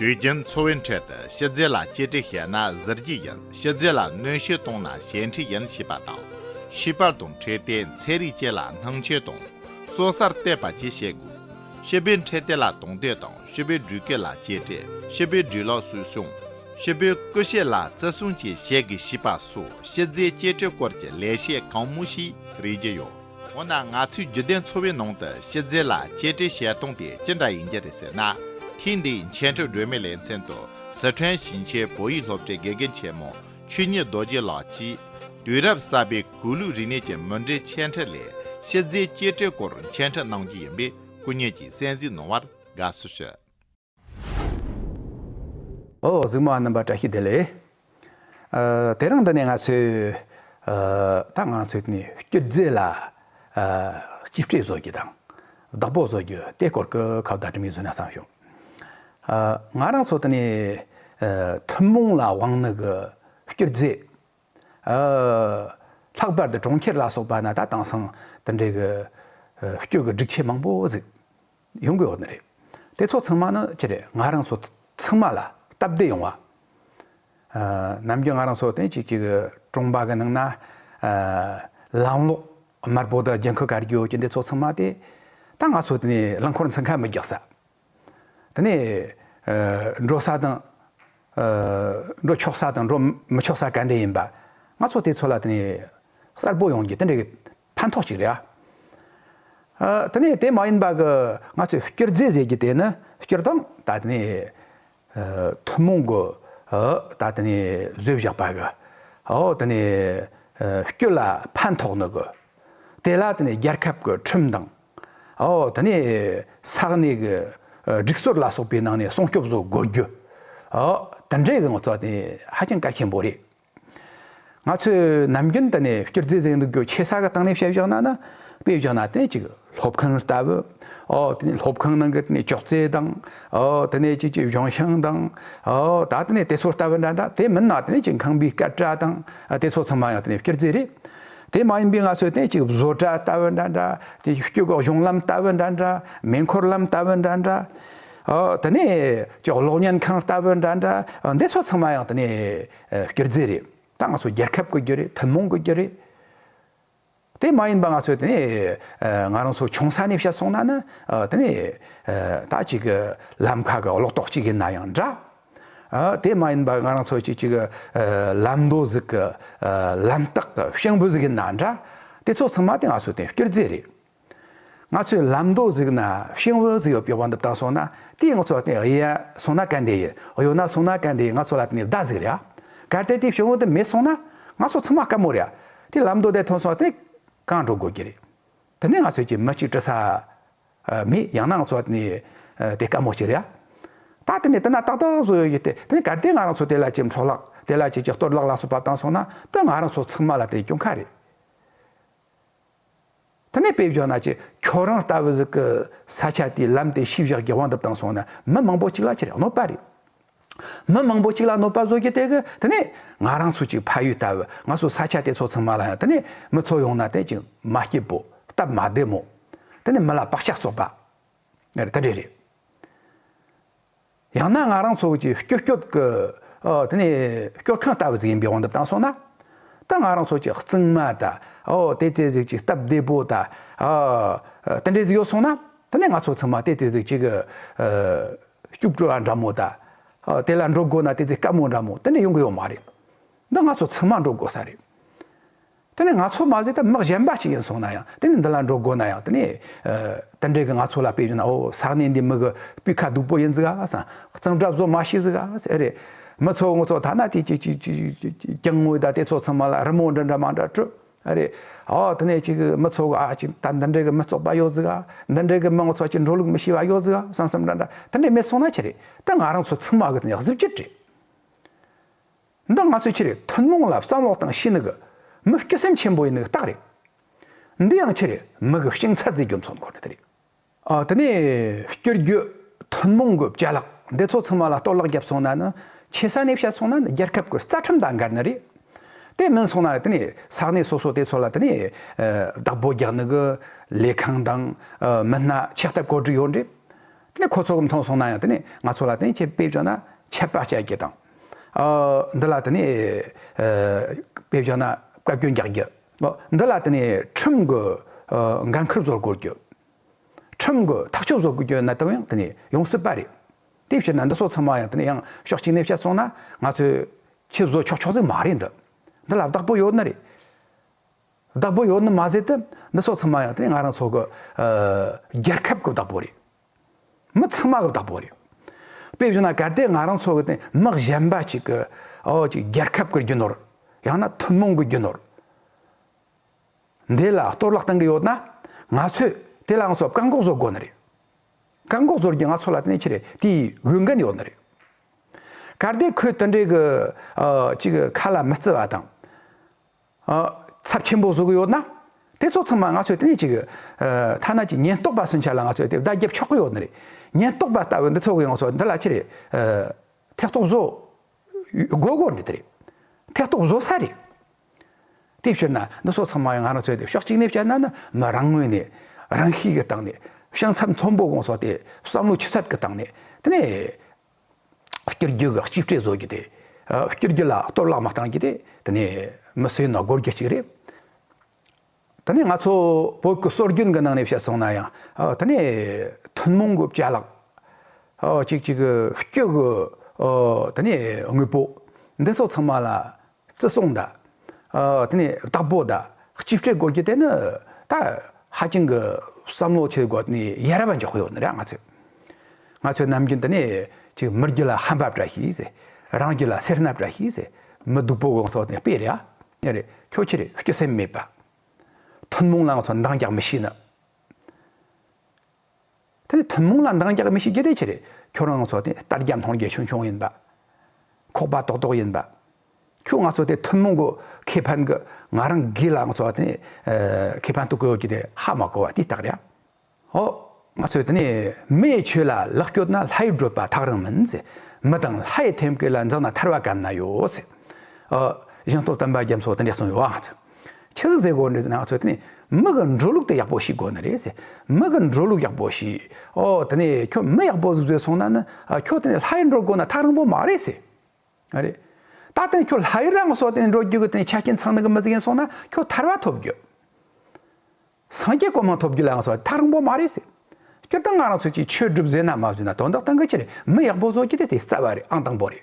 དུས་རྒྱུན་འཚོ་བའི་ཁྲོད་དུ་ཤི་ཚེ་ལ་གཅེས་སྤྲས་བྱས་ན་གཟི་བརྗིད་ཡིན་ཤི་ཚེ་ལ་གནོན་ཤུགས་གཏོང་ན་ཞེན་འཁྲི་ཡིན་ཞེས་པ་དང། ཤི་བར་དང་འཕྲད་བསྟེན་ཚད་རིགས་བཅས་ལ་སྣང་ཆོས་དང། སྲོག་གསར་གཏོད་པ་བཅས་བྱེད་དགོས། ཤི་བོའི་འཕྲད་བསྟེན་ལ་དང་དོད་དང་ཤི་བོའི་འགྲུལ་སྐྱོད་ལ་གཅེས་སྤྲས་ཤི་བོའི་འགྲུལ་ལོག་སུད་སྲུང། ཤི་བོའི་སྐུ་གཤེགས་ལ་བརྩི་སྲུང་བཅས་བྱེད་དགོས་ཞེས་པ་སོགས་ཤི་ཚེའི་གཅེས་སྤྲས་སྐོར་གྱི་ལེགས་བཤད་གང་མང་ཞིག་རིག་རྒྱུ་ཡོད། འོ་ན་ང་ཚོའི་བརྒྱུད་ལྡན་འཚོ་བའི་ནང་དུ་ཤི་ཚེ་ལ་གཅེས་སྤྲས་བྱེད་སྟངས་དེ་ཅི་འདྲ་ཡིན་རྒྱུ་རེད་ཟེར་ན། ཐེངས་འདིའི་མཆན་འཕྲིན་སྒྲོན་མེ་ལེ་ཚན་དུ་ཟི་ཁྲོན་ཞིང་ཆེན་བོད་ཡིག་སློབ་གྲྭའི་དགེ་རྒན་ཆེན་མོ་ཆོས་ཉིད་རྡོ་རྗེ་ལགས་ཀྱིས། དུས་རབས་གསར་པའི་གུས་ལུགས་རིག་གནས་ཀྱི་མུ་འབྲེལ་མཆན་འཕྲིན་ལས་ཤི་ཚེའི་གཅེས་སྤྲས་སྐོར་མཆན་འཕྲིན་གནང་རྒྱུ་ཡིན་པའི་སྐུ་ཉིད་ཀྱིས་གསན་གཟིགས་གནང་བར་དགའ་བསུ་ཞུ། ཨོ་གཟུགས་མ་རྣམ་པར་བཀྲ་ཤིས་བདེ་ལེགས། དེ་རིང་འདི་ནས་ང་ཚོས་ད་ང་ཚོས་ནས་སྐྱོད་རྫས་ལ་གཅིག་སྤྲས་བཟོ་རྒྱུ་དང་བདག་པོ་བཟོ་རྒྱུ་དེ་སྐོར་གྱི་ཁ་བརྡ་འགྲིམ་ཡུལ་བཟོས་ན་བསམ་བྱུང། ང་རང་ཚོ་ད་ནས་ཐུན་མོང་ལ་དབང་ནི་གྱི་སྐྱོད་རྫས། ལྷག་པར་དུ་གྲོང་ཁྱེར་ལ་སོགས་པ་ན་ད་དེང་སང་དེ་འདྲའི་གི་སྐྱོ་གི་སྒྲིག་ཆས་མང་པོ་ཟིག་ཡོང་གི་ཡོད་ནི་རེད། དེ་ཚོ་ཚང་མ་ནི་ཅི་རེད་ང་རང་ཚོ་ཚང་མ་ལ་སྟབས་བདེ་ཡོང་བ། ནམ་རྒྱུན་ང་རང་ཚོ་དེ་ཅིག་ཅིག་གྲོང་པ་གི་ནང་ན་ལམ་ལོག་དམར་པོ་དང་རྒྱན་ཁུ་གར་རྒྱུ་ཅི་འདི་ཚོ་ཚང་མ་དེ་ད་ང་ཚོ་དེ་ནས་རླངས་འཁོར་འཚང་ཁ་མི་རྒྱག་ས། དེ་ནས་འགྲོ་ས་དང། འགྲོ་ཆོག་ས་དང་འགྲོ་མི་ཆོག་ས་ག་འདི་ཡིན་པ། ང་ཚོ་དེ་ཚོ་ལ་དེ་ནས་གསར་བུ་ཡོང་རྒྱུ་དེ་འདྲའི་གི་ཕན་ཐོག་ཅིག་རེད་ཨ། དེ་ནས་དེ་མ་ཡིན་པ་གི་ང་ཚོས་བསྐྱུར་རྫས་ཟེར་རྒྱུ་དེ་ནི་བསྐྱུར་དང་ད་དེ་ནས་ཐུན་མོང་གི་ད་དེ་ནས་བཟོས་བཞག་པ་གི་འོག་དེ་ནས་སྐྱོད་ལ་ཕན་ཐོགས་ནི་གི། དེ་ལ་དེ་ནས་རྒྱལ་ཁབ་ཀྱི་ཁྲིམས་དང། འོག་དེ་ནས་ས་གནས་ཀྱི་སྒྲིག་སྲོལ་ལ་སོགས་པའི་ནང་ནས་སྲུང་སྐྱོབ་བཟོ་དགོས་རྒྱུ། འོག་དེ་འདྲའི་གི་ངོ་ཚ་དེ་ཧ་ཅང་གལ་ཆེན་པོ་རེད། ང་ཚོས་ནམ་རྒྱུན་དུ་ནས་སྐྱུར་རྫས་གཟེངས་རྟགས་སྒོས་ཆེ་ས་ག་སྟེང་ནས་ཕྱེ་བཞག་ན་ན་དཔེ་བཞག་ན་དེ་ཅིག་སློབ་ཁང་ལྟ་བུ་ཨོ་དེ་ནས་སློབ་ཁང་ནང་གི་དེ་ནས་ཅོག་ཙེ་དང་ཨོ་དེ་ནས་ཅིག་ཅིག་གཞུང་ཤང་དང་ཨོ་ད་དེ་ནས་དེ་ཚོ་ལྟ་བུ་འདྲ་འདྲ་དེ་མིན་ན་དེ་ནས་ཅིག་ཁང་པའི་སྐད་སྒྲ་དང་དེ་ཚོ་ཚང་མ་ཡང་དེ་ནས་སྐྱུར་རྫས་རེད། དེ་མ་ཡིན་པའི་ང་ཚོས་དེ་ཅིག་བཟོ་གྲྭ་ལྟ་བུ་འདྲ་འདྲ་དེ་སྐྱུར་གཞུང་ལམ་ལྟ་བུ་འདྲ་འདྲ་མེ་འཁོར་ལམ་ལྟ་བུ་འདྲ་འདྲ། དེ་ནས་ཀྱི་གློག་བརྙན་ཁང་ལྟ་བུ་འདྲ་འདྲ་འདི་ཚོ་ཚང་མ་ཡང་དེ་ནས་བསྐྱུར་རྫས་རེད་ད་ང་ཚོ་རྒྱལ་ཁབ་གི་རྒྱུ་རེད་ཐུན་མོང་གི་རྒྱུ་རེད། དེ་མ་ཡིན་པ་ང་ཚོ་དེ་ནས་ང་རང་ཚོ་ཆུང་ས་ནས་བཤད་སོང་ན་ནི་དེ་ནས་ད་ཅིག་གི་ལམ་ཁ་གི་ལོག་རྟོག་ཅིག་ཡིན་ན་ཡང་འདྲ། དེ་མ་ཡིན་པ་ང་རང་ཚོ་ཅིག་ཅིག་གི་ལམ་མདོ་ཟིག་གི་ལམ་སྟག་གི་ཤིང་བུ་ཟིག་ཡིན་ན་འདྲ་དེ་ཚོ་ཚང་མ་དེ་ང་ཚོ་དེ་བསྐྱུར་རྫས་རེད། ང་ཚོས་ལམ་མདོ་གཟིགས་ན་ཤིང་བོན་གཟིགས་ཡོད་པའི་དབང་དུ་བཏང་སོང་ན་དེས་ང་ཚོ་ལ་བརྟེན་གཡས་སོང་ན་གན་དེ་ཡོད་གཡོན་ན་སོང་ན་གན་དེ་ཡོད་ང་ཚོ་ལ་བརྟེན་ནས་བརྡ་གཟིགས་རེད་ཨ། གལ་ཏེ་དེ་ཤིང་བོན་དུ་མེད་སོང་ན་ང་ཚོ་ཚང་མ་དཀའ་མོ་རེད་ཨ། དེ་ལམ་མདོ་དེ་ཐོན་སོང་ན་དེ་གང་འགྲོ་དགོས་ཀྱི་རེད། དེ་ནས་ང་ཚོས་ཀྱི་མི་གཅིག་བཀྲི་ས་མེད་ཡང་ན་ང་ཚོ་ལ་བརྟེན་ནས་དེ་དཀའ་མོ་ཞིག་རེད་ཨ། ད་དེ་ནས་དེ་ན་ཏག་ཏག་བཟོ་ཡོད་ཀྱི་དེ་ནས་གལ་ཏེ་ང་རང་ཚོ་དེ་ལ་ཅིག་འཕྲོག་བརླག་དེ་ལ་ཅིག་ཅིག་གཏོར་བརླག་ལ་སོགས་པ་བཏང་སོང་ན་དེ་ང་རང་ཚོ་ཚང་མ་ལ་དེ་སྐྱོན་ག་རེད། དེ་ནས་དཔེ་བཞག་ན་ཅི་ཁྱོད་རང་ལྟ་བུ་ཟིག་གི་ས་ཆ་དེའི་ལམ་དེ་ཤི་བཞག་རྒྱག་བ་འདི་དང་སོང་ན་མི་མང་པོ་གཅིག་ལ་ཁྱེར་ཡག་གནོད་པ་རེད། མི་མང་པོ་གཅིག་ལ་གནོད་པ་བཟོ་རྒྱུ་དེ་གི་དེ་ནས་ང་རང་ཚོ་གཅིག་ཕ་ཡུལ་ལྟ་བུ་ང་ཚོ་ས་ཆ་དེ་ཚོ་ཚང་མ་ལ་ཡང་དེ་ནས་མི་ཚོ་ཡོང་ན་དེ་ཅི་མ་སྐྱིད་པོ་སྟབས་མ་བདེ་མོ་དེ་ནས་མི་ལ་བག་ཆགས་བཙོག་པ་དེ་འདྲས་རེད། ཡང་ན་ང་རང་ཚོ་གཅིག་སྐྱོབ་སྐྱོབ་ཀྱི་དེ་ནས་སྐྱོར་ཁང་ལྟ་བུ་ཟིག་ཡིན་པའི་དབང་དུ་བཏང་སོང་ན་ད་ང་རང་ཚོ་གཅིག་རྩིག་མ་དང་བལྟས་བཙལ་ཟིག་གཅིག་སྟབས་བདེ་པོ་དང་དེ་འདྲས་ཟིག་ཡོད་སོང་ན་དེ་ནས་ང་ཚོ་ཚང་མ་བལྟས་བཙལ་ཟིག་གཅིག་སྐྱུག་བྲོ་བ་འདྲ་མོ་དང་དེ་ལ་འགྲོ་དགོས་ན་བལྟས་བཙལ་དཀའ་མོ་འདྲ་མོ་དེ་འདྲས་ཡོང་གི་ཡོད་མ་རེད་འདི་ང་ཚོ་ཚང་མ་འགྲོ་དགོས་ས་རེད། དེ་ནི་ང་ཚོ་མ་ཟད་དུ་དམག་གཞན་པ་ཞིག་ཡིན་སོང་ན་ཡང་དེ་ནི་འདི་ལ་འགྲོ་དགོས་ན་ཡང་དེ་ནི། དེ་འདྲས་གི་ང་ཚོ་ལ་དཔེ་བཞིན་ན་འོ་ས་གནས་འདིའི་མི་གི་སྤུས་ཁ་སྡུག་པོ་ཡིན་ཟིག་ཨ་ཨ་སང་གཙང་སྦྲ་བཟོ་མ་ཤེས་ཟིག་ཨ་ཨ་ཨེ་རེད། མི་ཚོ་ངོ་ཚོ་ཐ་ན་དེ་ཅིག་ཅིག་ཀྱང་ངོ་ད་དེ་ཚོ་ཚང་མ་ལ་རི་མོ་འདྲ་འདྲ་མང་འདྲ་སྤྲོད་ཨ་རེད། ཨོ་དེ་ནས་ཅིག་མི་ཚོ་གི་ཨ་ཨ་ཅིག་ད་འདི་འདྲས་གི་མི་བཙོག་པ་ཡོད་ཟིག་ཨ་འདི་འདྲས་གི་མི་ངོ་ཚོ་ཅིག་འགྲོ་ལུགས་མི་ཤེས་པ་ཡོད་ཟིག་ཨ་བསམ་བསམ་འདྲ་འདྲ་དེ་འདྲས་མེད་སོང་ན་ཅི་རེད་དེ་ང་རང་ཚོ་ཚང་མ་གི་དེ་ནི་གཟི་བརྗིད་རེད། འདི་ང་ཚོས་ཁྱེད་ཐུན་མོང་ལ་བསམ་བློ་བཏང་ཤེས་ནི་གི་མི་སྐྱོ་སེམས་ཆེན་པོ་ཡིན་ནི་གི་རྟགས་རེད། འདི་ཡང་ཁྱེད་མི་གི་ཤིང་ཚ་རྫས་རྒྱུ་མཚོ་འཁོར་ནི་དེ་རེད། ཨ་དེ་ནས་བསྐྱུར་རྒྱུ་ཐུན་མོང་གི་བྱ་གླག་འདི་ཚོ་ཚང་མ་ལ་གཏོར་བརླག་བརྒྱབ་སོང་ན་ནི་ཁྱེད་ས་གནས་བཤད་སོང་ན་ནི་རྒྱལ་ཁབ་གི་རྩ་ཁྲིམས་དང་འགལ་ནི་རེད། དེ་མིན་སོང་ན་དེ་ནས་ས་གནས་སོ་སོ་དེ་ཚོ་ལ་དེ་ནས་བདག་པོ་རྒྱག་ནི་གི་ལས་ཁང་དང་མི་སྣ་ཆེ་ལྟ་བཀོད་སྒྲིག་ཡོད་རེད། ནི་ཁོ་ཚོ་མཐོང་སོང་ན་ཡང་དེ་ནི་ང་ཚོ་ལ་དེ་ནི་ཁྱེད་ཕེབས་བྱུང་ན་ཆད་པ་བཅད་རྒྱུ་དང། འདི་ལ་དེ་ནི་ཕེབས་བྱུང་ན་བཀའ་བཀྱོན་རྒྱག་རྒྱུ། འདི་ལ་དེ་ནི་ཁྲིམས་ཀྱི་འགན་ཁུར་བཟོ་དགོས་རྒྱུ། ཁྲིམས་ཀྱི་ཐག་གཅོད་བཟོ་དགོས་རྒྱུ་ནི་དེ་ཡང་དེ་ནི་ཡོང་སྲིད་པ་རེད། དེའི་ཕྱིར་ན་འདི་སོགས་ཚང་མ་ཡང་དེ་ནི་ཡང་ཕྱོགས་གཅིག་ནས་བཤད་སོང་ན་ང་ཚོས་ཁྱེད་བཟོ་ཆོག་ཆོག་ཟིག་མ་རེད་འདི། འདི་ལ་བདག་པོ་ཡོད་ནི་རེད། བདག་པོ་ཡོད་ནི་མ་ཟད་དུ་འདི་སོགས་ཚང་མ་ཡང་དེ་ང་རང་ཚོ་གི། རྒྱལ་ཁབ་གི་བདག་པོ་རེད། མི་ཚང་མ་གི་བདག་པོ་རེད། དཔེ་བཞིན་ན་གལ་ཏེ་ང་རང་ཚོ་གི་དེ་མི་གཞན་པ་ཅིག་གི། རྒྱལ་ཁབ་གི་རྒྱུ་ནོར། ཡང་ན་ཐུན་མོང་གི་རྒྱུ་ནོར། འདི་ལ་གཏོར་བརླག་གཏང་གི་ཡོད་ན། ང་ཚོས་དེ་ལ་ང་ཚོ་བཀག་འགོག་བཟོ་དགོས་ནི་རེད། བཀག་འགོག་བཟོ་རྒྱུ་ང་ཚོ་ལ་དེ་ནི་ཆེ་རེད་དེའི་འོས་འགན་ཡོད་ནི་རེད། གལ་ཏེ་ཁོས་དེ་འདྲའི་གི། ཅིག་གི་ཁ་ལ་མི་བརྩི་བ་དང། ཚབས་ཆེན་པོ་བཟོ་གི་ཡོད་ན། དེ་ཚོ་ཚང་མ་ང་ཚོས་ལྟེ་གནས་ཀྱི་ཐ་ན་གྱི་ཉེན་རྟོག་པ་སུན་ཆ་ལ་ང་ཚོས་དེ་བརྡ་བརྒྱབ་ཆོག་གི་ཡོད་ནི་རེད། ཉེན་རྟོག་པ་ལྟ་བུའི་འདི་ཚོ་གིས་ང་ཚོ་འདི་ལ་ཆེ་རེད། ཐེ་གཏོགས་བཟོ་དགོས་དགོས་ནི་དེ་རེད། ཐེ་གཏོགས་བཟོ་ས་རེད། དེ་ཕྱིར་ན་འདི་ཚོ་ཚང་མ་ང་རང་ཚོས་དེ་ཕྱོགས་གཅིག་ནས་བཤད་ན་ནི་མི་རང་ངོས་ནས་རང་ཤེད་ཀྱི་སྟངས་ནས་ཤིང་ཚབས་མཐོན་པོ་ང་ཚོ་དེ་བསམ་བློ་ཆུ་ཚད་ཀྱི་སྟངས་ནས་དེ་ནས་བསྐྱུར་རྒྱུ་གི་གཅིག་སྤྲོད་བཟོ་རྒྱུ་དེ། བསྐྱུར་རྒྱུ་ལ་གཏོར་བརླག་མ་གཏང་རྒྱུ་དེ་དེ་ནི་མི་སུའི་ནོར་འགོར་རྒྱུ་གཅིག་རེད། དེ་ནས་ང་ཚོ་བོད་ཀྱི་སྲོལ་རྒྱུན་གྱི་ནང་ནས་བཤད་སོང་ན་ཡང་དེ་ནི་ཐུན་མོང་གི་བྱ་གླག་ཅིག་ཅིག་བསྐྱུར་གྱི་དེ་ནི་དངོས་པོ་འདི་ཚོ་ཚང་མ་ལ་བརྩི་སྲུང་དང། དེ་ནས་བདག་པོ་དང་གཅེས་སྤྲས་དགོས་རྒྱུ་དེ་ནི་ད་ཧ་ཅང་གི་བསམ་བློ་ཆེ་དགོས་ནས་ཡ་རབས་འཇོག་གི་ཡོད་ནི་རེད་ང་ཚོས། ང་ཚོས་ནམ་རྒྱུན་དུ་ནས་ཅིག་མི་རྒྱུད་ལ་ཧམ་པ་བཀྲ་ཤིས་ཟེར། རང་རྒྱུད་ལ་སེར་སྣ་བཀྲ་ཤིས་ཟེར། མི་སྡུག་པོ་གང་སོགས་ནས་སྤེལ་རེད་ཨ། ཡ་རེད་ཁྱོད་ཕྱིར་སྐྱོད་སེམས་མེད་པ། ཐུན་མོང་ལ་ང་ཚོ་འདང་རྒྱག་མི་ཤེས་ནི། དེ་ནི་ཐུན་མོང་ལ་འདང་རྒྱག་མི་ཤེས་རྒྱུ་དེ་ཆི་རེད་ཁྱོད་རང་ཚོ་དེ་ལྟར་རྒྱབ་མཐོང་རྒྱ་ཆུང་ཆུང་ཡིན་པ། ཁོག་པ་ཏོག་ཏོག་ཡིན་པ། ཁྱོད་ང་ཚོ་དེ་ཐུན་མོང་གི་ཁེ་ཕན་གི་ང་རང་སྒེར་ལ་ང་ཚོ་དེ་ནི་ཁེ་ཕན་དུ་གོ་ཡོད་རྒྱུ་དེ་ཧ་མ་གོ་བ་དེ་ལྟར་རེད། ཨོ། ང་ཚོས་དེ་ནི་མིའི་ཆོས་ལ་ལག་སྐྱོད་ན་ལྷའི་བགྲོད་པ་ཐག་རིང་མིན། མི་དང་ལྷའི་ཐེམ་སྐས་ལ་འཛེགས་ན་ཐར་བ་ག་ན་ཡོད། ཨོ། བཞེངས་རྟོགས་བསྟན་པ་རྒྱ་མཚོ་དེ་འདྲས་གསུངས་ཡོད་ཨང། ཁྱེད་གཟིགས་ཟེར་དགོས་ནི་ང་ཚོ་དེ་ནི་མི་གི་འགྲོ་ལུགས་དེ་ཡག་པོ་ཞིག་དགོས་ནི་རེད་ཟེར་མི་གི་འགྲོ་ལུགས་ཡག་པོ་ཞིག་ཨོ་དེ་ནི་ཁྱོད་མི་ཡག་པོ་ཟིག་བཟོས་སོང་ན་ནི་ཁྱོད་དེ་ནི་ལྷ་ཡི་འགྲོ་དགོས་ན་ཐག་རིང་པོ་མ་རེད་ཟེར་ཨ་རེད། ད་དེ་ནི་ཁྱོད་ལྷ་ཡི་རང་སོ་དེ་ནི་འགྲོ་རྒྱུ་གི་དེ་ནི་ཆ་རྐྱེན་ཚང་ནི་གི་མི་ཟིག་ཡིན་སོང་ན་ཁྱོད་ཐར་བ་ཐོབ་རྒྱུ། སངས་རྒྱས་སྐུ་མི་ཐོབ་རྒྱུ་ལ་ང་ཚོ་ལ་ཐག་རིང་པོ་མ་རེད་ཟེར། སྤྱིར་བཏང་ང་རང་ཚོས་ཀྱི་ཆོས་སྒྲུབ་བཟོས་ན་མ་བཟོས་ན་དོན་དག་དང་གི་ཆེ་རེད་མི་ཡག་པོ་བཟོ་རྒྱུ་དེ་དེ་རྩ་བ་རེད་ཨང་དང་པོ་རེད།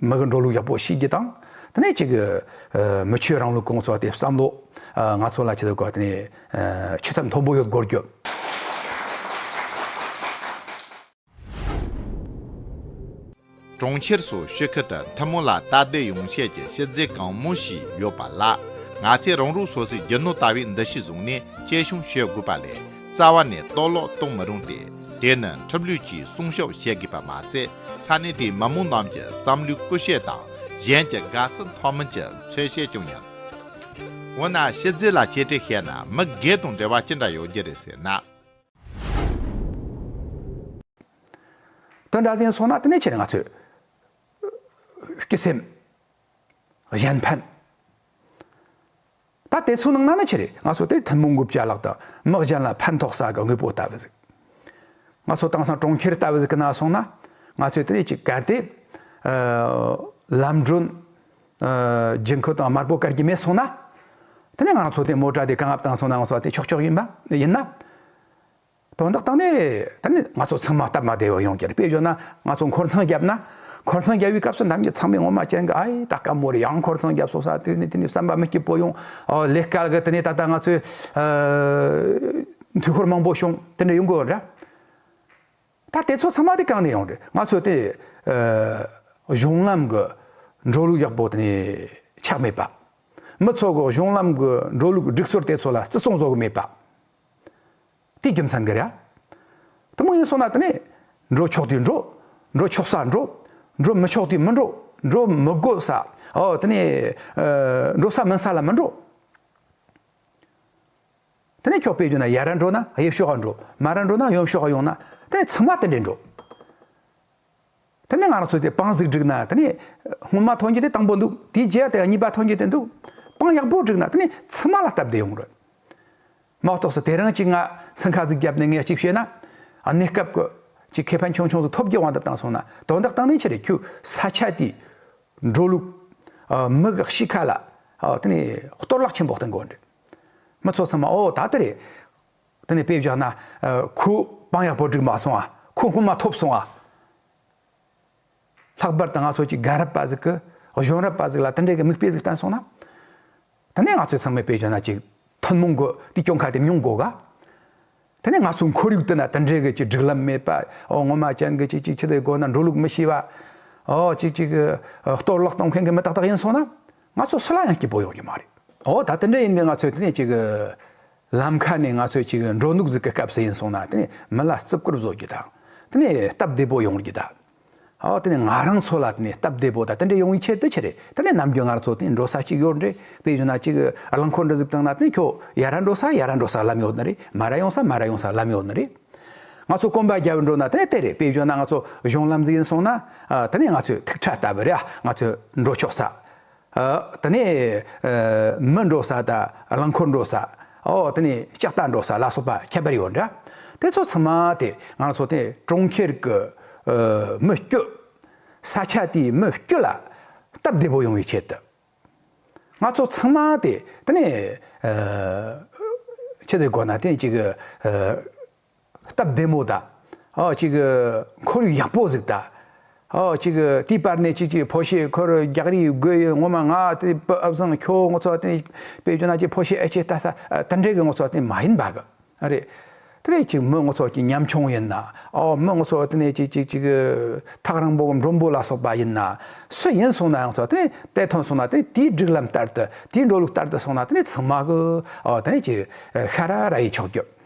མི་གི་འགྲོ་ལུགས་ཡག་པོ་ཤེས་རྒྱུ་དང། དེ་ནས་ཁྱེད་ཀྱི། མི་ཆོས་རང་ལུགས་གོང་འཚོག་དེ་བསམ་བློ། ང་ཚོ་ལ་ཁྱེད་ཀྱི་སྐོར་དེ་ནས། ཆོས་ཚབ་མཐོན་པོ་ཡོད་དགོས་རྒྱུ། གྲོང་ཁྱེར་སུ་ཤོད་ཁི་ཏི་མཐུན་མོ་ལ་སྟབས་བདེ་ཡོང་ཆེད་ཀྱི་གཞི་རྩའི་གང་མོ་ཞིག་ཡོད་པ་ལ། ང་ཚས་རང་རུག་སོ་སའི་རྒྱུ་ནོར་ལྟ་བུའི་འདུ་ཤེས་བཟུང་ནས་དཔྱད་གཞུང་ཤོད་དགོས་པ་ལས། རྩ་བ་ནས་གཏོར་ལོག་གཏོང་མི་རུང་སྟེ་དེ་ནི་འཁྲབ་ལུས་ཀྱི་སྲུང་ཤོབ་བྱེད་དགོས་པ་མ་ཟད་ས་གནས་དེའི་མ་མོ་རྣམས་ཀྱི་བསམ་བློའི་སྐུ་གཤེགས་དང་གཞན་གྱི་དགའ་བསུ་མཐོང་མིན་གྱི་འཚོལ་བཤད་ཅུང་ཡང། འོ་ན་ཕྱི་རྫིག་ལ་གཅེས་སྤྲས་བྱས་ན་མི་སྒེར་དང་འབྲེལ་བ་ཅི་འདྲ་ཡོད་རྒྱུ་རེད་ཟེར་ན། དོན་འདྲ་ཟིན་སོང་ན་དེ་ནས་ཁྱེད་ནི་ང་ཚོའི། སྐྱིད་སེམས། གཞན་ཕན། ད་དེ་ཚོ་ནང་ན་ནི་ཆེ་རེད་ང་ཚོ་དེ་ཐུན་མོང་གི་བྱ་གླག་དང་དམག་གཞན་ལ་ཕན་ཐོག་ས་གི་དངོས་པོ་ལྟ་བུ་ཟིག་ང་ཚོ་དེང་སང་གྲོང་ཁྱེར་ལྟ་བུ་ཟིག་གི་ནང་སོང་ན་ང་ཚོས་དེ་ཅིག་གལ་ཏེ་ལམ་སྒྲོན་རྒྱུན་ཁུལ་དང་དམར་པོ་བཀལ་གྱི་མེད་སོང་ན་དེ་ནི་ང་ཚོ་དེ་མོ་དྲ་དེ་གངས་ཨབ་དང་སོང་ན་ང་ཚོ་དེ་ཆོག་ཆོག་ཡིན་པ་ཡིན་ན། དོན་དག་དང་ནི་ད་ནི་ང་ཚོ་ཚང་མ་སྟབས་མ་བདེ་བ་ཡོང་གྱིར་དཔེ་བརྗོད་ན་ང་ཚོ་འཁོར་ཚང་བརྒྱབ་ན་འཁོར་ཚང་བརྒྱབ་བའི་སྐབས་སུ་འདམ་གྱི་ཚང་མས་ངོ་མ་ཅན་གྱི་ཨ་ཡེ་ད་སྐམ་མོ་རེད་ཡང་འཁོར་ཚང་བརྒྱབ་སོང་ས་དེ་ནི་དེ་ནི་བསམ་པ་མི་སྐྱིད་པོ་ཡོང་ལེ་སྐལ་གྱི་དེ་ནི་ད་ལྟ་ང་ཚོའི་དུས་འཁོར་མང་པོ་བྱུང་དེ་འདྲ་ཡོང་གི་རེད་ད་དེ་ཚོ་ཚང་མ་དེ་གང་ནས་ཡོང་རེད་ང་ཚོ་དེ་གཞུང་ལམ་གྱི་འགྲོ་ལུགས་ཡག་པོ་དེ་ནི་ཆགས་མེད་པ། མི་ཚོ་གཞུང་ལམ་གྱི་འགྲོ་ལུགས་སྒྲིག་སྲོལ་དེ་ཚོ་ལ་བརྩི་སྲུང་བཟོ་གི་མེད་པ། དེའི་རྒྱུ་མཚན་གྱིས་རེད། ཐུན་མོང་ཡིན་སོང་ན་དེ་ནས། འགྲོ་ཆོག་དུས་འགྲོ། འགྲོ་ཆོག་སར་འགྲོ། འགྲོ་མི་ཆོག་དུས་མི་འགྲོ། འགྲོ་མི་དགོས་ས། འོ་དེ་ནས། འགྲོ་ས་མིན་ས་ལ་མི་འགྲོ། དེ་ནས་ཁྱོག་པའི་རྒྱུ་ན་ཡར་ར་འགྲོ་ན་དབྱིབས་ཤོག་འགྲོ། མར་ར་འགྲོ་ན་ཡོམ་ཤོག་ཡོང་ན། དེ་ནས་ཚང་མ་དེ་འདྲས་འགྲོ། དེ་ནས་ང་རང་ཚོས་དེ་དཔང་གཟིགས་བསྒྲིགས་ན་དེ་ནས་སྔོན་མ་ཐོན་རྒྱུ་དེ་དང་པོ་འདུག་དེའི་རྗེས་དེ་གཉིས་པ་ཐོན་རྒྱུ་དེ་འདུག་དཔང་ཡག་པོ་བསྒྲིགས་ན་དེ་ནས་ཚང་མ་ལ་སྟབས་བདེ་ཡོང་རོགས། མ་གཏོགས་སུ་དེ་རིང་གཅིག་ང་ཚང་ཁ་གཟིགས་བརྒྱབ་ནས་ངས་གཅིག་བཤད་ན། གནས་སྐབས་ཀྱི་གཅིག་ཁེ་ཕན་ཆུང་ཆུང་ཟིག་ཐོབ་རྒྱུ་དབང་དུ་བཏང་སོང་ན་དོན་དག་བཏང་ནས་ཕྱིར་ཁྱུ་ས་ཆ་དེའི་འགྲོ་ལུགས། མི་གི་གཤིས་ཁ་ལ་དེ་ནས་གཏོར་བརླག་ཆེན་པོ་གཏོང་དགོས་རེད། མི་ཚོ་ཚང་མ་ཨོ་ད་དེ་རེད། དེ་ནས་དཔེ་བཞག་ན། ཁོའི་དཔང་ཡག་པོ་བསྒྲིགས་མ་སོང་ཨ། ཁོ་སྔོན་མ་ཐོབ་སོང་ཨ། ལྷག་པར་དུ་ང་ཚོ་གཅིག་རྒན་རབས་པ་ཟིག་གིས་གཞོན་རབས་པ་ཟིག་ལ་དེ་འདྲའི་གི་མིག་དཔེ་ཟིག་བསྟན་སོང་ན། དེ་ནས་ང་ཚོས་ཚང་མས་དཔེ་བཞག་ན་གཅིག་ཐུན་མོང་གི་དེ་སྐྱོང་ཁ་དེ་མྱོང་དགོས་ག། དེ་ནས་ང་ཚོའི་འཁོར་ཡུག་དེ་ན་དེ་འདྲའི་གི་གཅིག་སྒྲིག་ལམ་མེད་པ། ཨོ་སྔོན་མ་ཅན་གི་གཅིག་གཅིག་ཕྱི་དེ་སྒོ་ན་འགྲོ་ལུགས་མི་ཤེས་པ། ཨོ་གཅིག་གཅིག་གི་གཏོར་བརླག་གཏོང་མཁན་གི་མི་ཏག་ཏག་ཡིན་སོང་ན། ང་ཚོ་སུ་ལ་ཡང་སྐྱིད་པོ་ཡོང་རྒྱུ་མ་རེད། ཨོ་ད་དེ་འདྲ་ཡིན་ནི་ང་ཚོས་དེ་ནས་གཅིག་གི། ལམ་ཁ་ནས་ང་ཚོས་ཅིག་འགྲོ་འདུག་རྫུས་ཀྱི་སྐབས་སུ་ཡིན་སོང་ན་མི་ལ་བརྩི་བཀུར་བཟོ་རྒྱུ་དང། སྟབས་བདེ་པོ་ཡོང་རྒྱུ་དང། ང་རང་ཚོ་ལ་སྟབས་བདེ་པོ་དང་དེ་འདྲ་ཡོང་བའི་ཆེད་དུ་ཆེ་རེད་ནམ་རྒྱུན་ང་ཚོ་འགྲོ་ས་ཅིག་ཡོད་རེད་དཔེ་བཞིན་ན་ཅིག་རླངས་འཁོར་འདྲ་གཟིགས་སྟངས་ན་ཁྱོད་ཡར་ར་འགྲོ་ས་ཡར་ར་འགྲོ་ས་ལམ་ཡོད་ནི་རེད་མར་ར་ཡོང་ས་མར་ར་ཡོང་ས་ལམ་ཡོད་ནི་རེད། ང་ཚོ་སྐོམ་པ་རྒྱབ་འགྲོ་ན་དེ་རེད་དཔེ་བཞིན་ན་ང་ཚོ་གཞུང་ལམ་ཟིག་ཡིན་སོང་ན་དེ་ནས་ང་ཚོས་ཐིག་ཁྲ་ལྟ་བུ་རེད་ང་ཚོས་འགྲོ་ཆོག་ས་དེ་ནས་མི་འགྲོ་ས་དང་རླངས་འཁོར་འགྲོ་ས། དེ་ནས་ལྕགས་རྟ་འགྲོ་ས་ལ་སོགས་པ་ཁྱད་པར་ཡོད་འདྲ། དེ་ཚོ་ཚང་མ་དེ་ང་ཚོ་དེ་གྲོང་ཁྱེར་གྱི་མི་སྐྱོད། ས་ཆ་དེའི་མི་སྐྱོད་ལ་སྟབས་བདེ་པོ་ཡོང་བའི་ཆེད་དུ། ང་ཚོ་ཚང་མ་དེ་དེ་ནས་ཆེད་དུ་དགོས་ན་དེ་གཅིག་སྟབས་བདེ་མོ་དང། གཅིག་ཁོར་ཡུག་ཡག་པོ་ཟིག་དང། གཅིག་དེའི་བར་ནས་གཅིག་ཕོ་ཤས་ཁོར་རྒྱག་རིགས་དགོས་ཡོད་ངོ་མ་ང་དེ་སྤོབས་ཨབ་བཟང་ཁྱོ་ངོ་ཚོ་དེ་པེ་ཇོ་ན་གཅིག་ཕོ་ཤས་ཨེ་ཆེ་ད་ས་ད་འདྲེ་གི་ངོ་ཚོ་དེ་མ་ཡིན་པ་གི་རེད་དེ་བས་གཅིག་མོ་ངོ་ཚོ་གཅིག་ཉམ་ཆུང་ཡིན་ན་འོ་མོ་ངོ་ཚོ་དེ་ནས་གཅིག་གཅིག་གཅིག་ཐག་རིང་པོ་མགྲོན་པོ་ལ་སོགས་པ་ཡིན་ན་སུ་ཡིན་སོང་ན་ངོ་ཚོ་དེ་དེ་ཐོན་སོང་ན་དེ་དེའི་སྒྲིག་ལམ་ལྟར་དུ་དེའི་འགྲོ་ལུགས་ལྟར་དུ་སོང་ན་དེ་ཚང་མ་གི་འོ་དེ་ནས་གཅིག་ཤ་ར་ར་ཡི་ཆོག་རྒྱུ།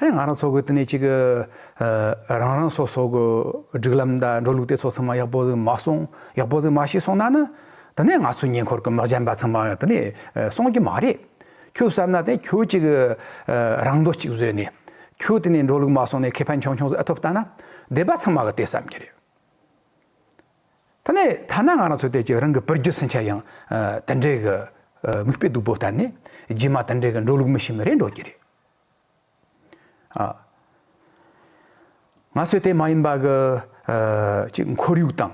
དེ་ང་རང་ཚོ་གི་དེ་ནས་ཅིག་གི། རང་རང་སོ་སོ་གི་སྒྲིག་ལམ་དང་འགྲོ་ལུགས་དེ་ཚོ་ཚང་མ་ཡག་པོ་ཟིག་མ་སོང་ཡག་པོ་ཟིག་མ་བྱས་སོང་ན་ནི། དེ་ནས་ང་ཚོའི་ཉེ་འཁོར་གི་མི་གཞན་པ་ཚང་མ་དེ་ནས་སོང་རྒྱུ་མ་རེད། ཁྱོད་བསམ་ན་དེ་ཁྱོད་ཅིག་གི། རང་འདོད་ཅིག་བཟོས་ནས། ཁྱོད་དེ་ནས་འགྲོ་ལུགས་མ་སོང་ནས་ཁེ་ཕན་ཆུང་ཆུང་ཟིག་ཨེ་ཐོབ་ལྟ་ན། སྡེ་པ་ཚང་མ་གི་དེ་བསམ་གྱི་རེད། དེ་ནས་ཐ་ན་ང་རང་ཚོའི་དེ་ཅིག་རང་གི་བུ་རྒྱུད་སུན་ཆ་ཡང། དེ་འདྲའི་གི། མིག་དཔེ་སྡུག་པོ་ལྟ་ནས། རྗེས་མ་དེ་འདྲའི་གི་འགྲོ་ལུགས་མི་ཤེས་མི་རེ་འགྲོ་གྱི་རེད། ང་ཚོས་དེ་མ་ཡིན་པ་གི་གཅིག་འཁོར་ཡུག་དང།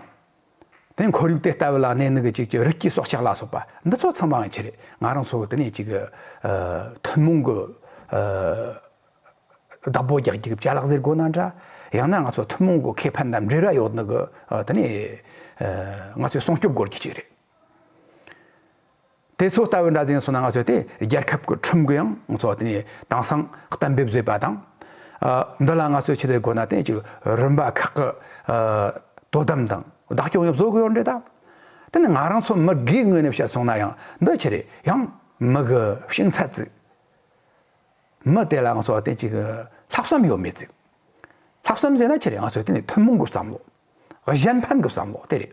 དེ་འཁོར་ཡུག་དེ་ལྟ་བུ་ལ་གནས་ནི་གཅིག་རི་སྐྱེས་སྲོག་ཆགས་ལ་སོགས་པ་འདི་ཚོ་ཚང་མ་ཡང་ཆེ་རེད་ང་རང་ཚོ་དེ་ནས་གཅིག་ཐུན་མོང་གི་བདག་པོ་རྒྱག་རྒྱུ་བྱ་ལག་ཟེར་དགོས་ན་འདྲ། ཡང་ན་ང་ཚོ་ཐུན་མོང་གི་ཁེ་ཕན་དང་འབྲེལ་བ་ཡོད་ནི་གི་དེ་ནས་ང་ཚོས་སྲུང་སྐྱོབ་དགོས་རྒྱུ་གཅིག་རེད། དེ་ཚོ་ལྟ་བུའི་འདྲ་མཚན་སོགས་ནང་ང་ཚོས་དེ་རྒྱལ་ཁབ་ཀྱི་ཁྲིམས་གུ་ཡང་ང་ཚོ་དེ་དེང་སང་གཏན་འབེབས་བཟོས་པ་དང། འདི་ལ་ང་ཚོས་ཆེད་དུ་དགོས་ན་དེ་གཅིག་རིམ་པ་ཁག་གི་དོ་དམ་དང་བདག་སྐྱོང་ཡང་བཟོ་དགོས་རེད་ད། དེ་ནི་ང་རང་ཚོ་མི་སྒེར་ངོས་ནས་བཤད་སོང་ན་ཡང་འདི་ཆེ་རེད་ཡང་མི་གི་ཤིང་ཚ་ཙིག། མི་དེ་ལ་ང་ཚོ་དེ་གཅིག་ལྷག་བསམ་ཡོད་མེད་ཙིག། ལྷག་བསམ་ཟེར་ན་ཆེ་རེད་ང་ཚོས་དེ་ནི་ཐུན་མོང་གི་བསམ་བློ། གཞན་ཕན་གྱི་བསམ་བློ་དེ་རེད།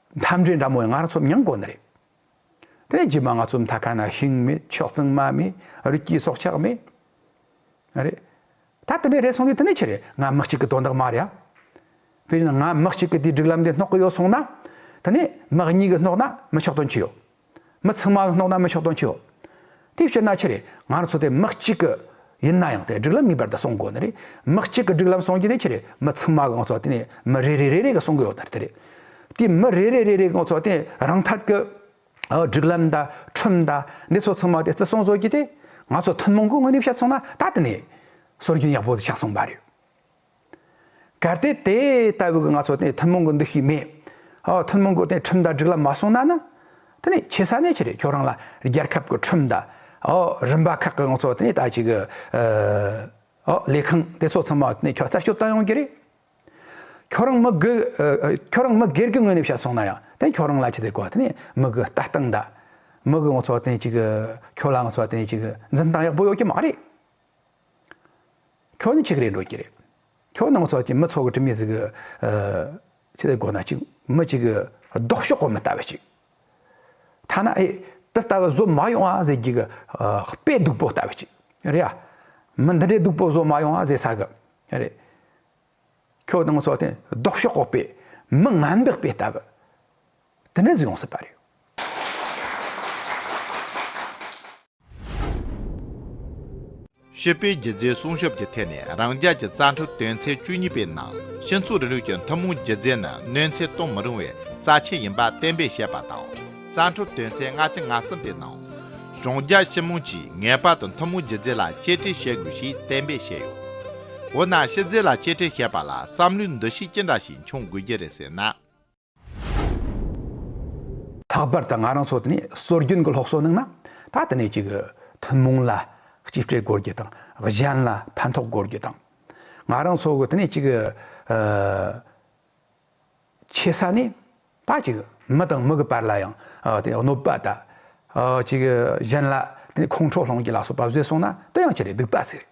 མཐའ་འབྲས་འདྲ་མོ་ཡང་ང་རང་ཚོ་མྱང་དགོས་ནི་རེད། དེ་རྗེས་མ་ང་ཚོ་མཐའ་ཁ་ན་ཤིང་མེད་ཕྱོགས་གཙང་མ་མེད་རི་སྐྱེས་སྲོག་ཆགས་མེད། རེད་ད། དེ་འདྲས་རེད་སོང་དུས་དེ་ནས་ཆི་རེད་ང་མི་གཅིག་གི་དོན་དག་མ་རེད་ཨ། དེ་བཞིན་ང་མི་གཅིག་གི་དེའི་སྒྲིག་ལམ་དེ་སྣོག་གི་ཡོད་སོང་ན། དེ་ནས་མི་གཉིས་ཀྱི་སྣོག་ན་མི་ཆོག་དོན་ཅི་ཡོད། མི་ཚང་མ་སྣོག་ན་མི་ཆོག་དོན་ཅི་ཡོད། དེའི་ཕྱིར་ན་ཆེ་རེད་ང་ཚོ་དེ་མི་གཅིག་གི་ཡིན་ན་ཡང་དེ་སྒྲིག་ལམ་ངེས་པར་དུ་སྲུང་དགོས་ནི་རེད་མི་གཅིག་གི་སྒྲིག་ལམ་སྲུང་རྒྱུ་དེ་ཆེ་རེད་མི་ཚང་མ་གི་ང་ཚོ་དེ་ནས་མི་རེ་རེ་རེ་རེ་གི་སྲུང་གི་ཡོད་དེ་རེད། དེ་མི་རེ་རེ་རེ་རེ་གི་ང་ཚོ་དེ་རང་ཐག་གི་སྒྲིག་ལམ་དང་ཁྲིམས་དང་འདི་ཚོ་ཚང་མ་དེ་བརྩི་སྲུང་བཟོ་རྒྱུ་དེ་ང་ཚོ་ཐུན་མོང་གི་དངོས་གནས་བཤད་སོང་ན་ད་དེ་ནས་སྲོལ་རྒྱུན་ཡག་པོ་ཆགས་སོང་བ་རེད། གལ་ཏེ་དེ་ལྟ་བུའི་གི་ང་ཚོ་དེ་ཐུན་མོང་གི་འདུ་ཤེས་མེད། ཨོ་ཐུན་མོང་གི་དེ་ཁྲིམས་དང་སྒྲིག་ལམ་མ་སྲུང་ན་ནི། དེ་ནི་ཆེ་ས་ནས་ཆེ་རེད་ཁྱོད་རང་ལ་རྒྱལ་ཁབ་གི་ཁྲིམས་དང། ཨོ་རིམ་པ་ཁག་གི་ང་ཚོ་དེ་ད་ཅིག་ཨོ་ལས་ཁང་དེ་ཚོ་ཚང་མ་དེ་ཁྱོད་རྩད་གཅོད་བཏང་ཡོང་གི་རེད། ཁྱོད་རང་མི་སྒེར་ཁྱོད་རང་མི་སྒེར་གི་ངོས་ནས་བཤད་སོང་ན་ཡང་དེ་ཁྱོད་རང་ལ་ཅི་དེ་གོ་དེ་མི་གི་ལྟ་སྟངས་དང། མི་གི་ང་ཚོ་དེ་ཅིག་ཁྱོད་ལ་ང་ཚོ་དེ་ཅིག་འཛིན་སྟངས་ཡག་པོ་ཡོད་ཀྱི་མ་རེད། ཁྱོད་ནི་ཆི་ཁི་རེད་འགྲོ་གི་རེད། ཁྱོད་ནང་ཚོགས་ཀྱི་མི་ཚོགས་ཀྱི་ཁྲིམས་མི་ཟིག་གི། ཆི་ལེ་དགོ་ན་ཅིག་མི་གཅིག་གི་ལྡོག་ཕྱོགས་གོ་མི་ལྟ་བ་ཅིག། ཐ་ན་ཨེ་འདི་ལྟ་བུ་བཟོ་མ་ཡོང་ཨ་ཟེར་རྒྱུ་གི་དཔེ་སྡུག་པོ་ལྟ་བུ་ཅིག་རེད་ཨ། མི་འདི་འདྲའི་སྡུག་པོ་བཟོ་མ་ཡོང་ཨ་ཟེར་ས་གི་རེད། ཁྱོད་དང་ངོ་ཚོ་དེ་ལྡོག་ཕྱོགས་འོག་པའི་མི་ང་འདག་པའི་ལྟ་བུ་དེ་འདྲ་ཟིག་ཡོང་སྲིད་པ་རེད། ཤེས་དཔལ་རྒྱལ་མཚན་སྲུང་སྐྱོབ་ཀྱི་ཐད་ནས་རང་རྒྱལ་གྱི་རྩ་འཕྲུལ་དོན་ཚན་བཅུ་གཉིས་པའི་ནང་ཤིང་འཚོ་རི་ལུད་ཀྱི་ཐུན་མོང་རྒྱུ་རྫས་ནི་གནོད་འཚེ་གཏོང་མི་རུང་བའི་རྩ་ཆེན་ཡིན་པ་གཏན་འབེབས་བྱས་པ་དང། རྩ་འཕྲོ་དོན་ཚན་ལྔ་སྟེ་ང་གསུམ་པའི་ནང། གཞུང་རྒྱ་ཤེས་མང་གྱིས་ངེས་པར་དུ་མཐུན་མོང་སྒྱུ་རྩལ་ལ་གཅེས་སྤྲས་བྱེད་དགོས་ཞེས་གཏན་འབེབས་བྱས་ཡོད། འོ་ན་ཕྱི་རྫས་ལ་གཅེས་སྤྲས་བྱེད་པ་ལ་བསམ་བློའི་འདུ་ཤེས་ཅི་འདྲ་ཞིག་འབྱུང་དགོས་ཀྱི་རེད་ཟེར་ན། ལྷག་པར་དུ་ང་རང་ཚོ་ནི་སྲོལ་རྒྱུན་གྱི་སློབ་གསོ་གནང་ན་ད་ལྟ་ནས་ཅིག་མཐུན་མོང་ལ་གཅེས་སྤྲས་དགོས་རྒྱུ་དང་གཞན་ལ་ཕན་ཐོགས་དགོས་རྒྱུ་དང། ང་རང་ཚོ་གི་ད་ནས་ཅིག། ཆེ་ས་ནས་ད་ཅིག་མི་དང་མི་གི་བར་ལ་ཡང་གནོད་པ་ད་ཅིག་གཞན་ལ་དེ་ཁོང་ཁྲོ་སློང་གི་ལ་སོགས་པ་བཟོས་སོང་ན་དེ་ཡང་ཁྱི་རེད་སྡིག་པ་ཟེར་རེད།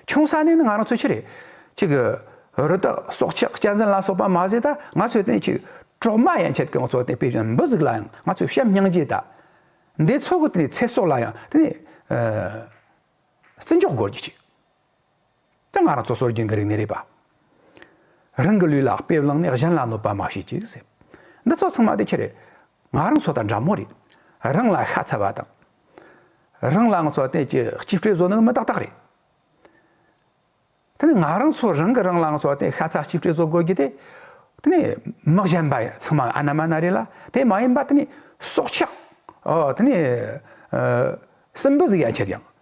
ཆུང་ས་ནས་ནི་ང་རང་ཚོས་ཁྱི་རེད་ཅིག་རི་དྭགས་སྲོག་ཆགས་གཅན་གཟན་ལ་སོགས་པ་མ་བཟོས་ད་ང་ཚོས་དེ་ཅིག་གྲོག་མ་ཡན་ཆད་ཀྱང་ཚོ་དེ་དཔེ་བཞིན་འབུ་ཟུག་ལ་ཡང་ང་ཚོས་བཤམས་སྙིང་རྗེ་ད་འདས་ཚོ་གི་དེ་ཚེ་སྲོག་ལ་ཡང་དེ་བརྩི་འཇོག་དགོས་ཀྱི་ཅིག། དེ་ང་རང་ཚོ་སྲོལ་རྒྱུན་གྱི་རིག་གནས་རེད་པ། རང་གི་ལུས་ལ་དཔེ་བླངས་ནས་གཞན་ལ་གནོད་པ་མ་བྱེད་ཅིག་ཟེར། འདི་ཚོ་ཚང་མ་དེ་ཁྱེད་རེད། ང་རང་ཚོ་དང་འདྲ་མོ་རེད། རང་ལ་ཤ་ཚ་བ་དང། རང་ལ་ང་ཚོ་བསྟན་ཅེས་གཅིག་སྤྲོས་བཟོ་ནི་མི་ཏག་ཏག་རེད། དེ་ནི་ང་རང་ཚོ་རང་གིས་རང་ལ་ང་ཚོ་བསྟན་ཤ་ཚ་གཅིག་སྤྲོས་བཟོ་དགོས་རྒྱུ་དེ། དེ་ནི་མི་གཞན་པ་ཚང་མ་ཨ་ན་མ་ན་རེད་ལ་དེ་མ་ཡིན་པ་དེ་ནི་སྲོག་ཆགས། དེ་ནི་སྲིན་འབུ་ཟིག་ཡ་མཆིས་ཀྱང།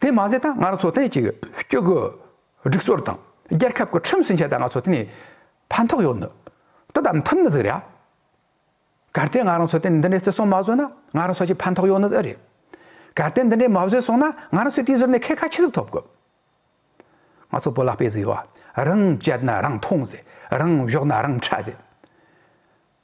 དེ་མ་ཟད་ད་སྔར་འཚོ་རྟེན་གྱི་སྐྱོ་གུ་སྒྲིག་སྲོལ་དང་རྒྱལ་ཁབ་ཀྱི་ཁྲིམས་སྲིང་ཆ་ད་སྔར་འཚོ་རྟེན་ནས་ཕན་ཐོགས་ཡོད་ནི་དེ་ལྟར་མཐུན་ནི་ཟིག་རེད་ཨ། གལ་ཏེ་ང་རང་འཚོ་རྟེན་འདི་འདྲའི་བརྩི་སྲུང་མ་བཟོས་ན་ང་རང་འཚོ་བྱེད་ཕན་ཐོགས་ཡོད་ནི་ཨེ་རེད། གལ་ཏེ་འདི་འདྲའི་མ་བཟོས་སོང་ན་ང་རང་ཚོས་དེ་བཟོས་ནས་ཁེ་ཁ་ཆི་ཟིག་ཐོབ་དགོས། ང་ཚོ་བོད་ལ་དཔེ་ཟིག་ཡོད་ཨ། རང་བྱས་ན་རང་འཐུང་ཟེར་རང་བཞོག་ན་རང་འཕྲད་ཟེར།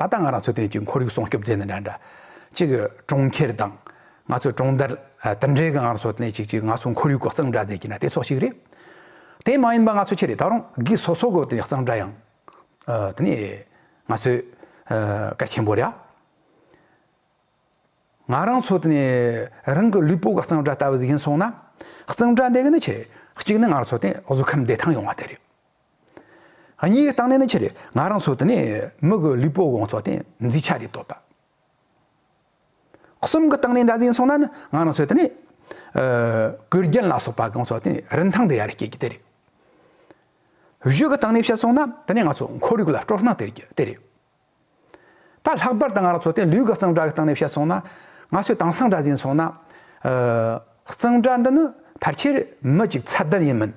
ད་ལྟ་ང་རང་ཚོའི་ཐད་ཀྱི་ཁོར་ཡུག་སྲུང་སྐྱོབ་མཛད་ནས་འདྲ་འདྲ། གཅིག་གི་གྲོང་ཁྱེར་དང། ང་ཚོའི་གྲོང་རྡལ། དེ་འབྲེལ་གྱི་ང་རང་ཚོ་ནས་ཅིག་ཅིག་ང་ཚོའི་ཁོར་ཡུག་གི་གཙང་སྦྲ་མཛད་ཀྱི་ན་དེ་སོགས་ཤིག་རེད། དེ་མ་ཡིན་པ་ང་ཚོ་ཁྱེད་རེ་ད་རུང་གིས་སོ་སོ་གོ་དེ་ནས་གཙང་སྦྲ་ཡང། དེ་ནས། ང་ཚོས། སྐད་ཆེན་པོ་རེ་ཨ། ང་རང་ཚོ་དེ་ནས་རང་གི་ལུས་པོ་ག་གཙང་སྦྲ་ལྟ་བུ་ཟིག་ཡིན་སོང་ན། གཙང་སྦྲ་འདེགས་ནི་ཆེ། གཅིག་ནི་ང་རང་ཚོ་དེ་བཟོད་ཁམས་བདེ་ཐང་ཡོང་བ་དེ་རེད། གཉིས་ཀའི་རྟགས་ནི་ནི་ཆེ་རེད་ང་རང་ཚོ་དེ་ནས་མི་གི་ལུས་པོ་དགོང་ཚོ་དེ་འཛིན་ཆ་རེད་དོ་ད། གསུམ་གི་རྟགས་ནི་འདྲ་ཟིན་སོང་ན་ནི་ང་རང་ཚོ་དེ་ནས་གུར་རྒྱན་ལ་སོགས་པ་དགོང་ཚོ་དེ་རིན་ཐང་དེ་ཡར་སྐྱེད་རྒྱུ་དེ་རེད། བཞི་གི་རྟགས་ནི་བཤད་སོང་ན་དེ་ནས་ང་ཚོ་འཁོར་ཡུག་ལ་སྤྲོ་སྣང་སྟེར་རྒྱུ་དེ་རེད། ད་ལྷག་པར་དུ་ང་རང་ཚོ་དེ་ལུས་གི་གཙང་སྦྲ་གི་རྟགས་ནི་བཤད་སོང་ན་ང་ཚོའི་དྭངས་སང་འདྲ་ཟིན་སོང་ན་གཙང་སྦྲ་འདི་ནི་ཕལ་ཆེར་མི་གཅིག་ཚད་ལྡན་ཡིན་མིན།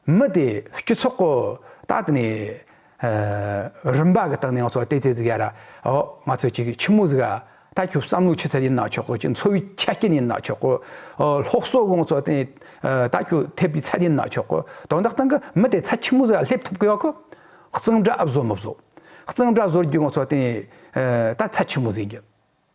མི་དེ་སྐྱིད་ཚོགས་གོ། ད་དེ་ནས། རིམ་པ་གི་སྟེང་ནས་ང་ཚོ་བལྟས་བལྟས་ཟིག་ཡ་ར། ཨོ། ང་ཚོས་ཅིག་ཆི་མོ་ཟིག་ཨ། ད་ཁྱོད་བསམ་བློ་ཆུ་ཚད་ཡིན་ན་ཆོག་གོ་ཅིག་འཚོ་བའི་ཆ་རྐྱེན་ཡིན་ན་ཆོག་གོ། སློབ་གསོ་གོ་ང་ཚོ་བལྟས། ད་ཁྱོད་འཐད་པའི་ཚད་ཡིན་ན་ཆོག་གོ། དོན་དག་སྟེང་གི་མི་དེ་ཚད་ཆི་མོ་ཟིག་ཨ་སླེབས་ཐུབ་དགོས་བ་གོ། གཙང་སྦྲ་ཨ་བཟོ་མི་བཟོ། གཙང་སྦྲ་བཟོ་རྒྱུ་ང་ཚོ་བལྟས། ད་ཚད་ཆི་མོ་ཟིག་ཡིན།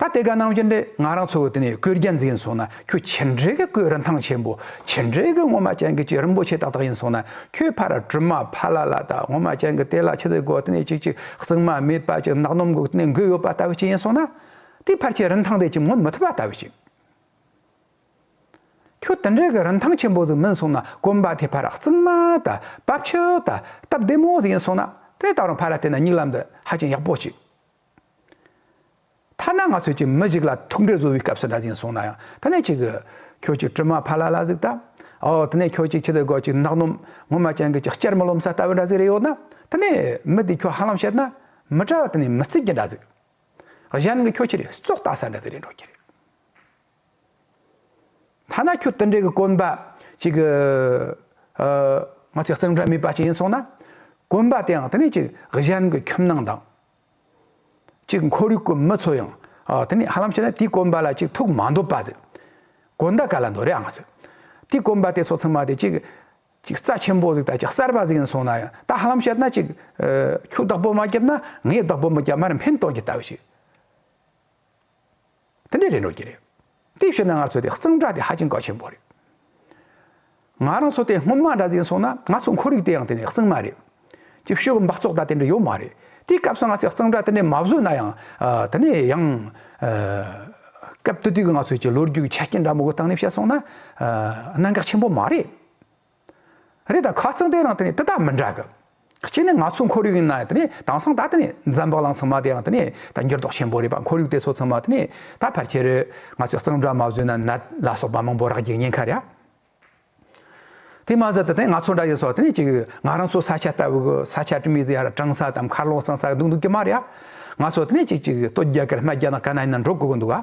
ད་དེ་ག་ནང་བཞིན་རེད་ང་རང་ཚོ་དེ་ནས་བཀོད་རྒྱ་འཛིན་སོང་ན་ཁྱོད་ཇི་འདྲའི་གི་བཀོད་རིན་ཐང་ཆེན་པོ་ཇི་འདྲའི་གི་ངོ་མ་ཅན་གི་ཅི་རིན་པོ་ཆེ་ཏག་ཏག་ཡིན་སོང་ན་ཁྱོད་ཕ་ར་གྲུ་མ་ཕ་ལ་ལ་དག་ངོ་མ་ཅན་གི་དེ་ལ་ཆི་ཟིག་གོ་དེ་ནས་ཅིག་ཅིག་གཙིགས་མ་མེད་པ་ཅིག་གནག་སྣུམ་གོ་དེ་ནས་འགུལ་ཡོད་པ་ལྟ་བུ་ཅིག་ཡིན་སོང་ན་དེའི་ཕར་ཆེ་རིན་ཐང་དེ་ཅིག་མངོན་མི་ཐུབ་པ་ལྟ་བུ་ཅིག་ཁྱོད་དེ་འདྲའི་གི་རིན་ཐང་ཆེན་པོ་ཟིག་མིན་སོང་ན་གོམ་པ་དེ་ཕ་ར་གཙིགས་མ་དང་སྤབས་ཆུ་དང་སྟབས་བདེ་མོ་ཟིག་ཡིན་སོང་ན་དེ་ནས་ད་རུང་ཕ་ར་དེ་ན་སྙིགས་ལམ་དུ་ཧ་ཅང་ཡག་པོ་ཅིག། ཐ་ན་ང་ཚོས་ཀྱི་མི་ཞིག་ལ་ཐུག་འཕྲད་བཟོ་བའི་སྐབས་སུ་འདྲ་ཞིང་བཟུང་ན་ཡང་ད་ནས་ཁྱོད་ཀྱིས་ཀྱི་དྲི་མ་ཕ་ལ་ལ་གཟིགས་ད་འོ་ད་ནས་ཁྱོད་ཀྱིས་ཁྱི་དེ་དགོད་ཀྱི་ནག་ནོམ་ངོ་མ་ཅན་གྱི་ཀྱི་སྐྱེར་མོ་ལོམ་ས་ལྟ་བུ་འདྲ་ཟིག་རེད་ཡོད་ན་ད་ནས་མི་དེས་ཁྱོད་ཧ་ལམ་བཤད་ན་མི་གྲ་བ་ད་ནས་མི་རྩིས་ཀྱི་འདྲ་ཟིག་གཞན་གྱི་ཁྱོད་ཁྱི་རེ་བཙོག་ལྟ་ས་འདྲ་ཟིག་རེད་འགྲོ་ཀྱི་རེད། ཐ་ན་ཁྱོད་དེ་འདྲའི་གི་དཀོན་པ་གཅིག་གི། ང་ཚོའི་གཙང་སྦྲ་མེད་པ་ཅིག་ཡིན་སོང་ན། དཀོན་པ་དེའང་དེ་ནས་གཅིག་གཞན་གི་ཁྱིམ་ནང་དང། གཅིག་འཁོར་ཡུག་གི་མི་ཚོ་ཡང་དེ་ནས་ཧ་ལམ་བྱས་ན་དེའི་དཀོན་པ་ལ་གཅིག་ཐུག་མ་འདོད་པ་ཟེར། དཀོན་ད་ག་ལ་འདོད་རེད་ཨང་ང་ཚོས། དེའི་དཀོན་པ་དེ་ཚོ་ཚང་མ་དེ་གཅིག་གཅིག་རྩ་ཆེན་པོ་ཟིག་དང་གཅིག་གསར་པ་ཟིག་ཡིན་སོང་ན་ཡང་ད་ཧ་ལམ་བཤད་ན་གཅིག་ཁྱོས་བདག་པོ་མ་བརྒྱབ་ན་ངས་བདག་པོ་མི་བརྒྱབ་མར་འཕེན་གཏོང་གི་ལྟ་བུ་ཞིག། དེ་འདྲའི་རེ་འགྲོ་གྱི་རེད། དེ་ཤོད་ན་ང་ཚོ་དེ་གཙང་སྦྲ་དེ་ཧ་ཅིང་གལ་ཆེན་པོ་རེད། ང་རང་ཚོ་དེ་སྔོན་མ་འདྲ་འཛིན་སོང་ན་ང་ཚོ་འཁོར་རིགས་དེའང་དེ་ནས་གཙང་མ་རེད། ཀྱི་ཤོད་གི་འབག་བཙོག་ད་དེ་འདྲ་ཡོད་མ་རེད། དེའི་སྐབས་སུ་ང་ཚོས་གཙང་སྦྲ་དེ་འདྲས་མ་བཟོས་ན་ཡང། དེ་ནས་ཡང། སྐབས་དུས་དུས་ཀྱི་ང་ཚོའི་ཀྱི་ལོ་རྒྱུས་ཀྱི་ཆ་རྐྱེན་འདྲ་མང་པོ་བརྟགས་ནས་བཤད་སོང་ན། གནད་འགག་ཆེན་པོ་མ་རེད། རེད་ད་ཁ་ཚང་དེ་རང་དེ་ནས་དེ་དག་མི་འདྲ་གི། གཅིག་ནི་ང་ཚོ་ཁོར་ཡུག་ཡིན་ན་དེ་ནས་དེང་སང་ད་དེ་ནས་འཛམ་བག་ལང་ཚང་མ་དེ་རང་དེ་ནས་ད་འགྱུར་ལྡོག་ཆེན་པོ་རེད་པ་ཁོར་ཡུག་དེ་ཚོ་ཚང་མ་དེ་ནས་ད་ཕལ་ཆེར་ང་ཚོས་གཙང་སྦྲ་མ་བཟོས་ན་ནད་ལ་སོགས་པ་མང་པོ་རག་རྒྱུ་ཉེན་ཁ་རེད་ཨ། དེ་མ་ཟད་དེ་ནས་ང་ཚོ་འདྲ་ཡི་སོགས་དེ་ནས་ཅིག་ང་རང་ཚོ་ས་ཆ་ལྟ་བུ་གི་ས་ཆ་དྲི་མི་ཟ་ཡར་གྲང་ས་དང་མཁར་ལོག་གཙང་ས་གདུག་འདུག་གི་མ་རེད་ཨ། ང་ཚོ་དེ་ནས་ཅིག་ཅིག་སྟོད་རྒྱ་གར་སྨད་རྒྱ་ནག་ཀ་ན་ཡིན་ན་འགྲོ་དགོས་ཀྱི་འདུག་ཨ།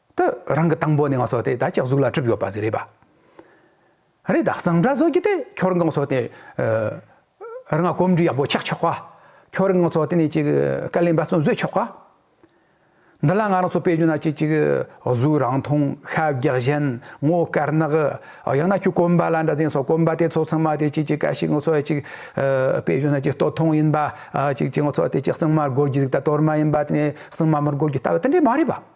དུ་རང་གི་དང་པོ་ནས་ང་སོགས་དེ་ད་ཅག་གཟུགས་ལ་གྲུབ་ཡོད་པ་ཟེར་རེད་པ་རེད་ད་གཙང་སྦྲ་བཟོ་གི་དེ་ཁྱོད་རང་སོགས་དེ་རང་ང་གོམས་འདྲིས་ཡག་པོ་ཆགས་ཆོག་ག་ཁྱོད་རང་སོགས་དེ་ནས་ཅིག་དཀའ་ལས་འབད་བརྩོན་བཟོས་ཆོག་ག་འདི་ལ་ང་རང་སོགས་དཔེ་བརྗོད་ན་ཅིག་ཅིག་གཟུགས་རང་མཐོང་ཤ་རྒྱགས་ཞན་ངོ་དཀར་ནག་ཡང་ན་ཁྱོད་གོམས་པ་ལ་འདྲ་ཟེར་སོགས་གོམས་པ་དེ་ཚོ་ཚང་མ་དེ་ཅིག་ཅིག་དཀའ་ཞིག་ངོ་སོགས་ཅིག་དཔེ་བརྗོད་ན་ཅིག་ལྟོ་ཐུང་ཡིན་པ་ཅིག་ཅིག་ངོ་སོགས་དེ་ཅིག་གཙང་མར་དགོད་རྒྱུ་ཟིག་ད་གཏོར་མ་ཡིན་པ་དེ་ནས་གཙང་མ་མར་དགོད་རྒྱུ་ལྟ་བུ་དེ་འདྲས་མ་རེད་པ།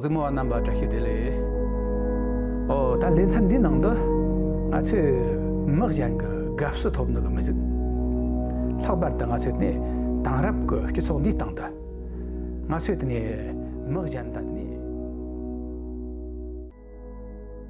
གཟིགས་མོ་བ་རྣམས་པར་བཀྲ་ཤིས་བདེ་ལེགས། འོ་ད་ལས་མཚམས་འདིའི་ནང་དུ། ང་ཚོས་མི་གཞན་གྱི་དགའ་བསུ་ཐོབ་ནུས་པ་མི་གཟིགས། ལྷག་པར་དུ་ང་ཚོའི་དེ་དེང་རབས་ཀྱི་སྤྱི་ཚོགས་འདིའི་སྟེང་དུ། ང་ཚོས་དེ་ནས་མི་གཞན་དང་དེ་ནས།